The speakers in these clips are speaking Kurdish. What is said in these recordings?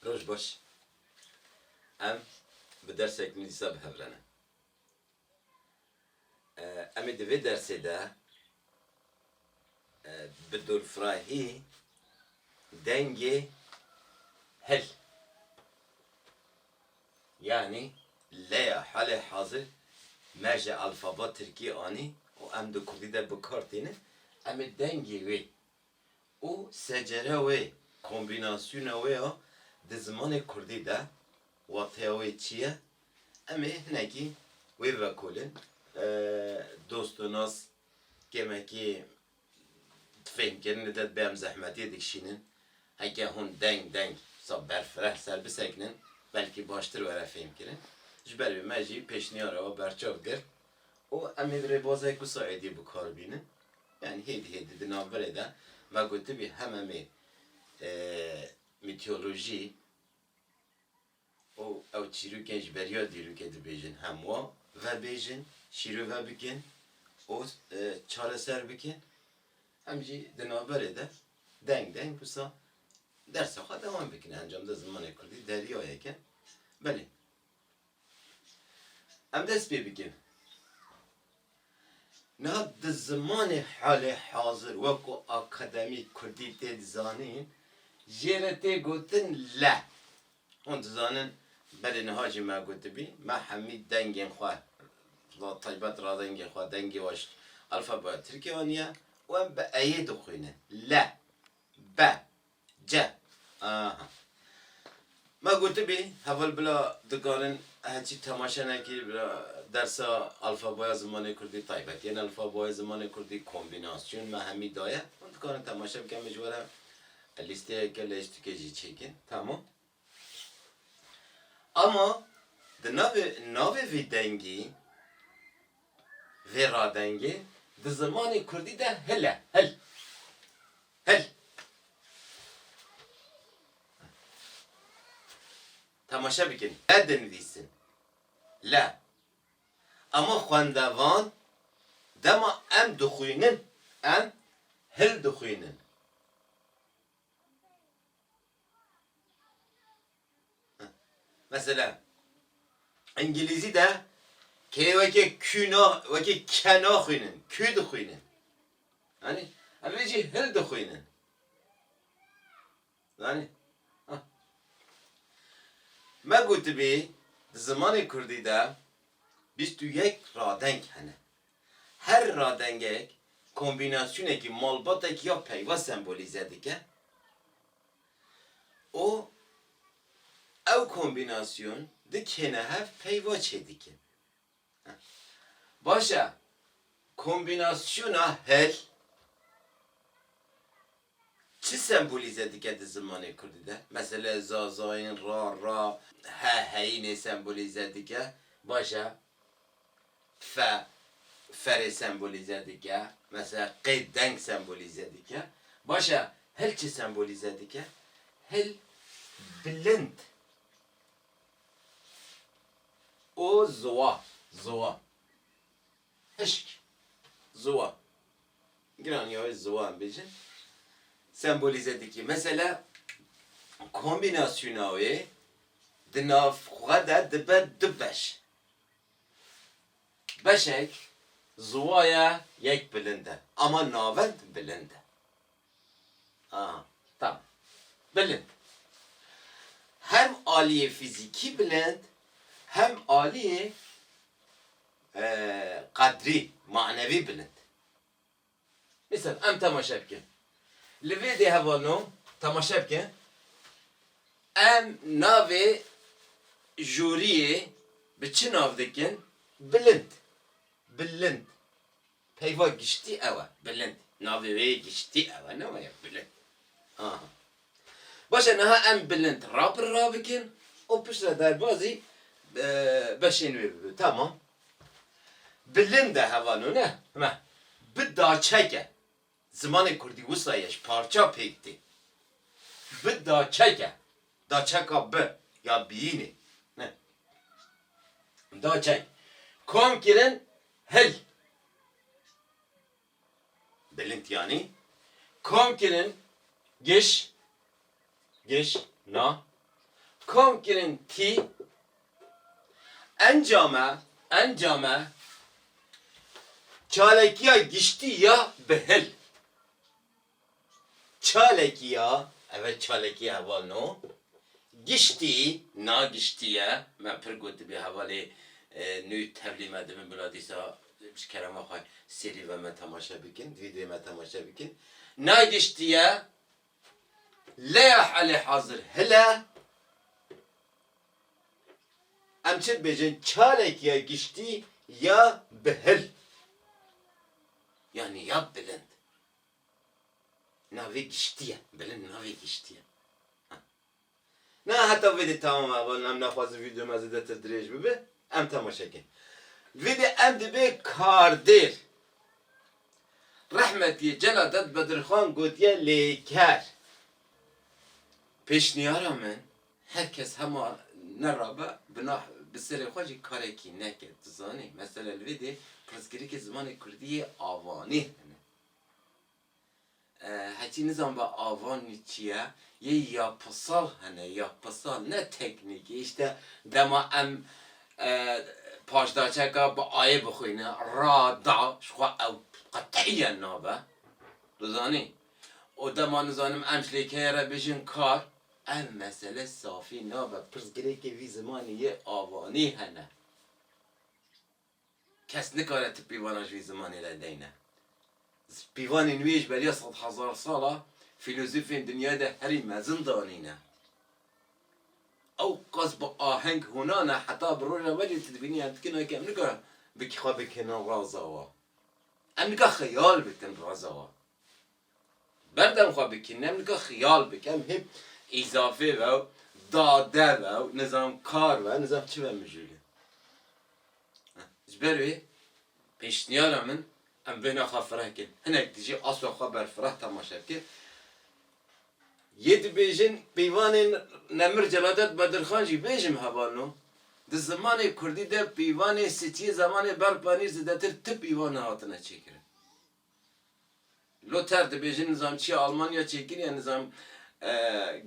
Roj baş. Em bi dersek nû dîsa bi hev re ne. Em ê di vê dersê de bi dorfirahî dengê hil yanî leya halê hazir me ji alfaba tirkî anî û em di kurdî de bi kar tînin, em ê dengê wê û secereya wê, kombînasyona wê ya di zimanê kurdî de wateya wê çi ye? Em ê hinekî wê bivekolin. Dost û nas kêmekî fêhmkirinê de dibe em zehmetiyê dikişînin. Heke hûn deng deng wisa berfireh ser bisekinin belkî baştir were fêhmkirin. Ji ber vê me jî pêşniyara we berçav girt. û em hêvî rê bozayê ku Suediyê bi kar bînin, yanî hêdî hêdî di navbirê de me gotibî hememê mîtiyolojî û ew çîrokên ji beriya dîrokê dibêjin hem wa vebêjin, şîrove bikin û çareser bikin, em jî di navberê de deng deng wisa dersa xwe dewam bikin. Encamda zimanê kurdî deryayek e. Belê Em dest pê bikin. Niha di zimanê halê hazir wekû akademî kurdî tê dizanîn jê re tê gotin le. Hûn dizanin belê niha jî me gotibî me hemî dengên xwe bi taybet radengê xwe dengê we ji alfabeya tirkî anîye û em bi eyê dixwînin le, be, Ce. Aha. Me gotibî heval bila dikarin heçî temaşe nekî bila dersa alfaboya zimanê kurdî taybet yên alfaboya zimanê kurdî kombînasyon me hemî daye. Hûn dikarin temaşe bikin min ji we re lîsteyeke lê ji tikê jî çêkin. Tamam. Ama di navê navê vê dengê, vê radengê di zimanê kurdî de hil e, hil, hil. Temaşe bikin, le dinivîsin, le. Ama xwendevan dema em dixwînin, em hil dixwînin. Mesela İngilizî de kê weke kü na weke ke naxwînin, kü dixwînin. Anî? Em ê jî hil dixwînin. Zanî? Me gotibî di zimanê Kurdî de bîst û yek radeng hene. Her radengek kombînasyonekî malbatek ya peyva sembolîze dike û ew kombînasyon di kêne hev peyva çêdike. Baş e, kombînasyona hil. Çi sembolîze dike di zimanê kurdî de? Meselê Zazayîn, ra, ra, he, heyînê sembolîze dike. Baş e. Fe, ferê sembolîze dike. Mesela qê deng sembolîze dike. Baş e, hil çi sembolîze dike? Hil bilind û ziwa, ziwa. Hişk, ziwa, giranîya wê ziwa em bêjin sembolîze dikî. Mesela kombînasyona wê di nav xwe de dibe du beş. Beşek ziwa ye yek bilind e ama navend bilind e. A, tamam. Bilind. Hem aliyê fîzîkî bilind hem aliyê qedrî manevî bilind. Misal em temaşe bikin, li vê dê hevalino temaşe bikin em navê jûriyê bi çi nav dikin? Bilind. Bilind. Peyva giştî ew e, bilind. Navê wê yê giştî ew e, ne wayek bilind. Ha. Baş e, niha em bilind rapir rabikin û pişt re derbazî beşên wê bibe. Tamam. Bilind e hevano ne? Me. Bi daçek e. Zimanê kurdî wisa ye ji parça pêk tê. Bi daçeke, daçeka bi ya biyînê ne. Daçek kom kirin hil. Bilind yanî kom kirin giş Giş, Na. Kom kirin tî. Encame, encame, Çalekiya giştî ya bi hil. Çalekiya, ev e çalekiya heval no, giştî, na giştî ye, me pir gotibî hevalê nû tevlî me dibin bila dîsa ji kerema xwe sêrî ve me temaşe bikin, vîdeoyê me temaşe bikin. Na giştî ye, Leya helê hazir hile em çi dibêjin çalek ya giştî ya bi hil yanî ya bilind navê giştî ye bilind navê giştî ye. Na heta vêdê tamam e ava em naxwazin vîdyo me zêdetir dirêj bibe em temaşe kin. Vêdê em dibe kardêr. Rehmetiyê Celadet Bedirxan gotiye lêker. Pêşniyara min her kes hema ne rabe bi na bi serê xwe jî karekî neke. Tu zanî mesela li vêdê pirsgirêkê zimanê kurdî yê avanê hene. Hetî nizanba ava nû çi ye, yê ya pisal hene, ya pisal ne teknîkî îşte dema em paşdaçeka bi ayê bixwîne ra, da ji xwe ew qetîyen nabe dizanî û dema nizanim em ji lêkeyê re bijîn kar ev mesele safî nabe, pirsgirêkê vî zimanî yê avanî hene. Kes nikare ti pîvana ji vî zimanê re deyne. Pîvanên wî yê ji beriya sed hezar sal a fîlozofên dinyayê de herî mezin danîne. Ew qas bi aheng hûna ne heta bi roja we jî tu dibînî em dikin ok em nikare xwe bikêne raza we. Em nikare xeyal bikin raza we. Berdem xwe bikin em nika xiyal bikin em hê îzafê ve û dade ve û nizam kar ve nizam çi ve mijûlin. Ji ber wê pêşniyara min em bêhna xwe fireh bikin. Hinek dijî aswa xwe ber fireh temaşe bikin. Yê dibêjin peyvanên Nemir Celadet Bedirxan jî bêjim heval no. Di zimanê kurdî de peyvanê sitiyê zamanê Berpanîr zidetir ti peyvan hatine çêkirin. Luther dibêje nizamçiya Almanya çêkirine nizam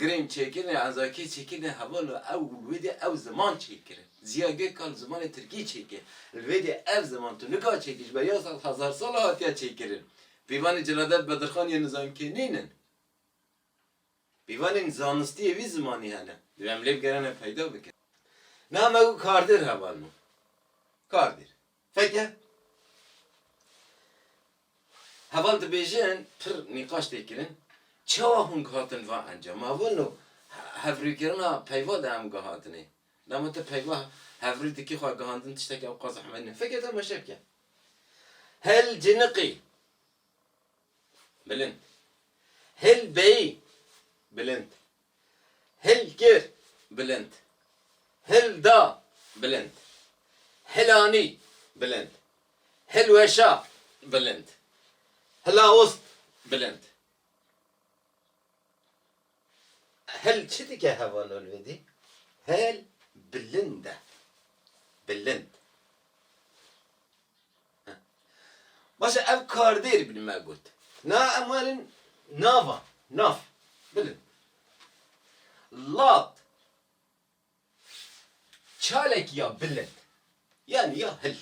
girên çêkirine ezakî çêkirine heval û ew li wê de ew ziman çêkir. Ziya Gökalp zimanê tirkî çêkir. Li wê de ev ziman tu nika çêkir ji ber ya sal hezar sal e hatiye çêkirin. Pîvanê Celadet Bedirxan yên nizamkê nînin. Pîvanên zanistî yê vî zimanî hene. Divê em lê bigerîne peyda bikin. Niha me got kardêr heval ma. Kardêr. Feke heval dibêjin pir nîqaş tê kirin çawa hûn gihatin va encama. Wino hevrûkirina peyva de em gihatinê. Dema tu peyva hevrû dikî xwe gihandin tiştekî ewqas zehmet nîye. Feke temaşe bike. Hel ciniqî. Bilind. Hil beyî, bilind. Hil kir, bilind. Hil da, bilind. Hil anî, bilind. Hil weşa, bilind. Hila ost, bilind. Hil çi dike heva nolwedî? Hil bilind e. Bilind. Baş e ev kardêr bin me got. Na em werin nava, nav, bilin. Lat, çalek ya bilind, yanî ya hil,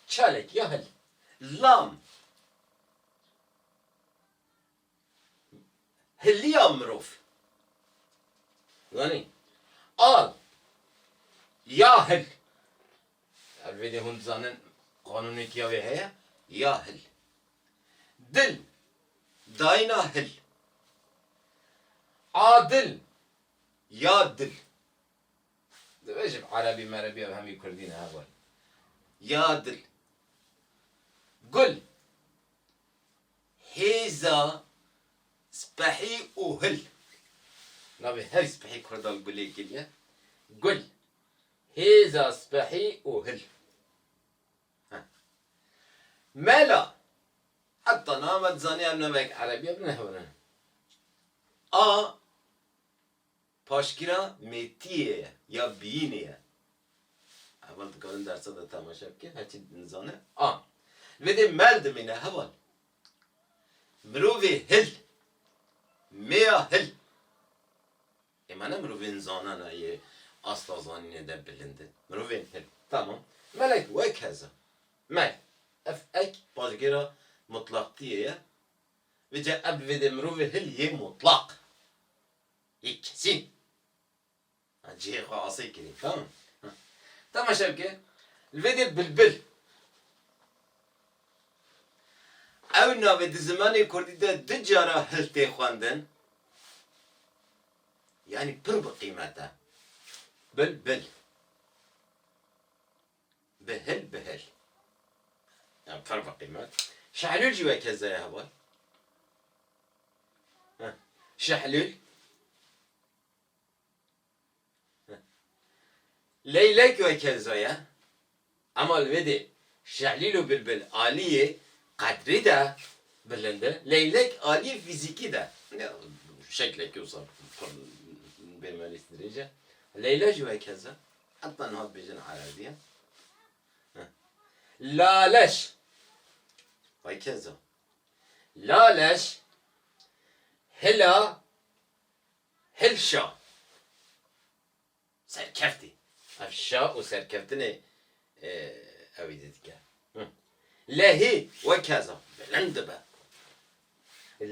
çalek ya hil. Lam, Hiliya mirov. Zanî? Al ya hil. Her vêdê hûn dizanin qanûnekî ya wê heye, ya hil. Dil, dayîna hil. A dil, ya dil. Dibêjim erebî merebî ev hemî kurdî ne heval. Ya dil. Gul. Hêza spehî û hil. Navê her spehî Kurdan gulêkê ye. Gul, hêza spehî û hil. Heh. Mela, heta nava dizaniya navek erebî ye, bi nehewirine. A Paşgira mêtiyê ye ya biyînê ye. Heval dikarin dersa de temaşe bikin, her çî nizane a. Li vê dê mel dimîne heval. Mirovê hil, mêya hil. Ê me ne mirovên zanena yê asta zanînê de bilind in. Mirovên hil. Tamam. Melek wek hez e. Mel. Ev ek paşgêra mutlaqtiyê ye. Vê ca ev li vê dê mirovê hil yê mutlaq. Yê kesîn. A cihê xwe asê kirî tamam. Temaşe bike, li vê dê bilbil. Ew navê di zimanê kurdî de du cara hil tê xwendin. Yanî pir bi qîmet e. Bilbil. Bi hil bi hil. Ya perva qîmet. Şehlûl jî weke ze ye heval. Heh. Şehlûl. Heh. Leylek weke ze ye. Ema li vê dê şehlîl û bilbil aliyê qedrî de bilind e. Leylek aliyê fîzîkî de. Ya şeklekî wisa pir bêmenîs dirêj e. Leyla jî weke ze. Heta niha dibêjin ereziya. Laleş. Vay kezo. Laleş. Hila. Hilşa. Serkeftî. Ev şa û serkeftinê e, ew ê didike. Lehî we keza. Bilind dibe.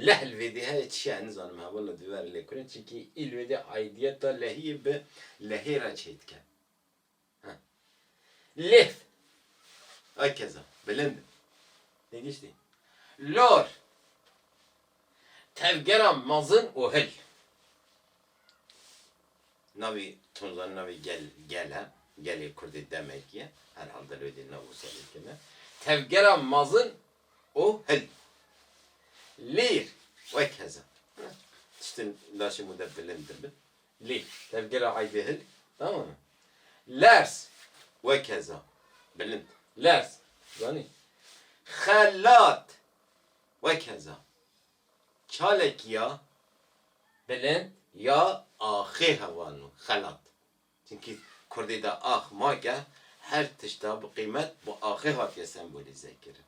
Lehl vêdî heye çi ye nizanim hevala divê re lêkure çikî îl vêdî aidiyeta lehiyê bi lehê re çê dike. Ha. Lêv akeza bilind e. Têgiştî? Lor tevgera mezin û hil. Navê tunzan navê gel gel e. Gelê kurdê demekî ye. Herhal dilwêdî nav û serê keme. Tevgera mezin û hilî. Lîr wek heza. Tiştên laşê min de bilind dibin. Lî. Tevgera eybê hilî. Tamam e. Lers wek heza. Bilind. Lers. Zanî. Xelat wek heza. Çalek ya bilind ya axê heval o. Xelat. Çimkî kurdî de ax make, her tişta bi qîmet bi axê hatiye sembolîze kirin.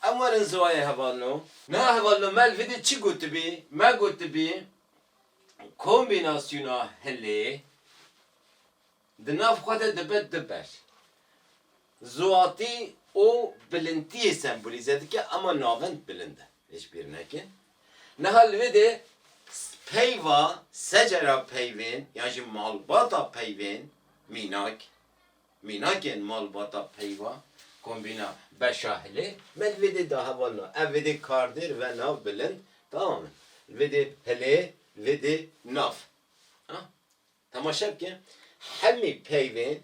Em werin ziwayê hevalno. Niha hevalno me li vê dî çi gotibî? Me gotibî kombînasyona hilê di nav xwe de dibe du beş. Ziwatî û bilintiyê sembolîze dike, ema navind bilind e. Hişbîr nekin. Niha li wê de peyva secera peyvên yan jî malbata peyvên mînak, mînakên malbata peyva, kombîna beşa hilê me li vê dê de heval na. Ev vê dê kardêr ve nav bilind tamam e. Li vê dê hilê li vê dê nav. Ha? Temaşe bike hemî peyvên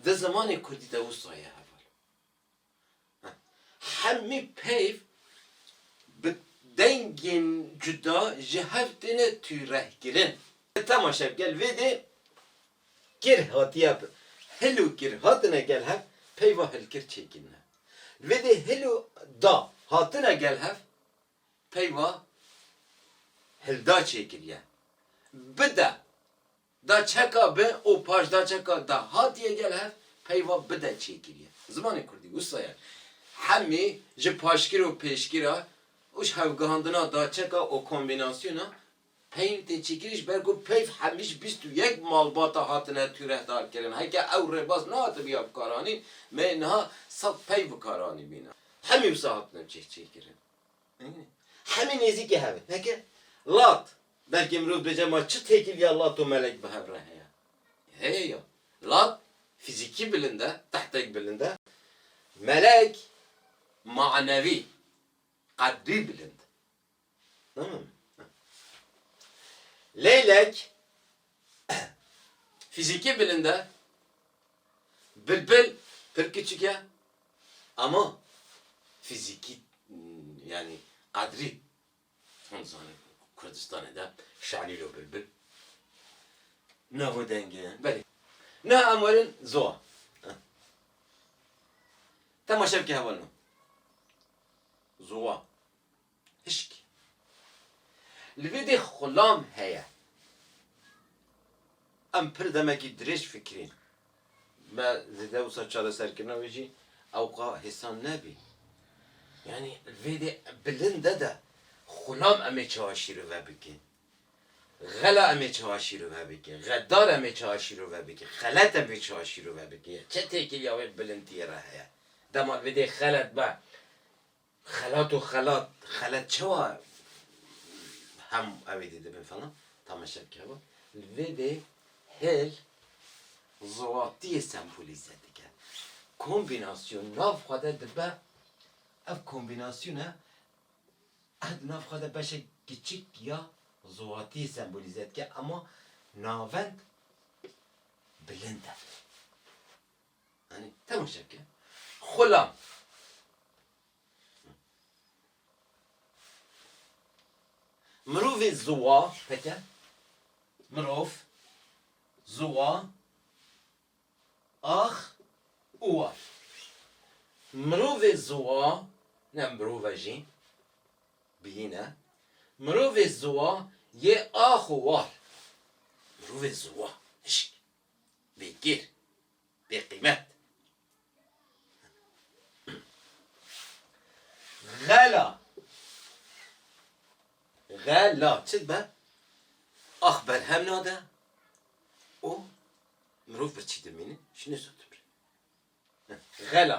di zimanê kurdî de wisa ye heval. Hemî peyv bi dengên cuda ji hev têne tûrehkirin. Di temaşev gel vê dê kir hatiye bi hil û kir hatine gel hev peyva hilkir çêkirine. Vê dê hil û da hatine gel hev peyva hilda çêkiriye. Bide Da çeka bi û paş da çeka da hatiye gel hev peyva bi de çêkiriye. Zimanê kurdî wisa ye. Hemî ji paşgir û pêşgira û ji hevgihandina da çeka û kombînasyona peyv tê çêkirin ji ber ku peyv hemî ji bîst û yek malbata hatine tûrehdar kirin. Heke ew rêbaz nehatibiya bikaranîn me niha sed peyv bikaranîbîne. Hemî wisa hatine cih çêkirin. Hemî nêzîkî hev e. Peke, lat, belkî mirov dibêje ma çi têkil ya lat û melek bi hev re heye? Heye ya. Lat fîzîkî bilind e, tehtek bilind e. Melek manevî, qeddî bilind. Leylek Fîzîkî bilind e. Bilbil pir kiçik e ama fîzîkî yanî qedrî hûn dizanin ku Kurdistanê de Şalîl û Bilbil navo dengê ye. Belê. Niha em werin zoa. Temaşe bike hevalino. Zoa. Pişk. Li vê dê xulam heye. Em pir demekî dirêj fikirîn. Me di dewsa çareserkirina wê jî ewqa hêsan nebî. Yanî li vê dê bilinde de xulam em ê çawa şîrove bikin? Xela em ê çawa şîrove bikin? Xedar em ê çawa şîrove bikin? Xelet em ê çawa şîrove bikin? Ya çi têkiliya wê bilintiyê re heye? Dema li vê dê xelet be. Xelat û xelat, xelet çawa hem evê dê dibin falan tamaşe bike bo. Li vê dê hêl ziwatiyê sembolîze dike. Kombînasyon nav xwe de dibe, ev kombînasyone ev di nav xwe de beşek kiçik ya ziwatiyê sembolîze dike, ema navend bilind e. Mirovê ziwa heke, mirov, ziwa, ax û war. Mirovê ziwa ne mirov e jî biyîn e. Mirovê ziwa yê ax û war. Mirovê ziwa hişk. bêgir, bêqîmet. Xela, xela çi dibe? Ax berhem nade û mirov birçî dimîne, ji nêzû dimre. Xela.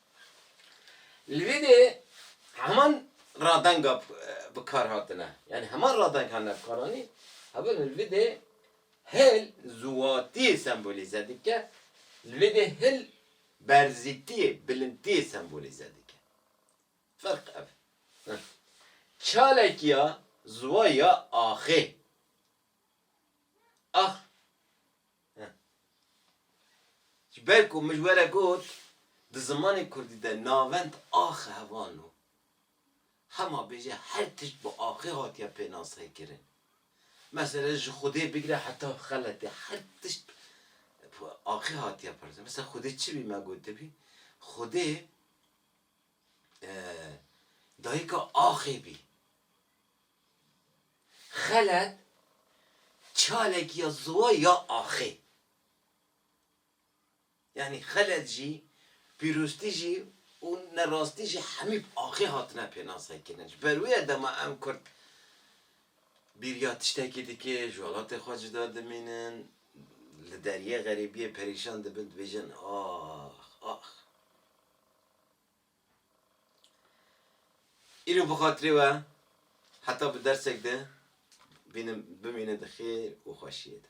Li vê de heman radenga bi kar hatine, yanî heman radeng hatine bi kar anîn. Heval li vê de hil ziwatiyê sembolîze dike, li vê de hil berzîtiyê, bilindiyê sembolîze dike. Ferq ev e. Çalekî ya ziwa ya axê, ax. Ji ber ku min ji we re got di zimanê kurdî de navend axe hevan o. Hema bêje her tişt bi axê hatiye pênasekirin. Mesele ji xwedê bigire heta xeletê her tişt bi axê hatiye pirsgirtin. Mesele xwedê çi bî me gotibî? Xwedê dayika axê bî. Xelet, çalek ya ziwa ya axê. Yanî xelet jî, pîroztî jî û nerastî jî hemî bi axê hatine pênasekirin. Ji ber wê ye dema em kurd bîriya tiştekî dike, ji welatê xwe cuda dimînin, li deriyê xerîbiyê perîşan dibin, dibêjin ax, ax. Îro bi xatirê we heta bi dersek de bînim bimîne di xêr û xweşiyê de.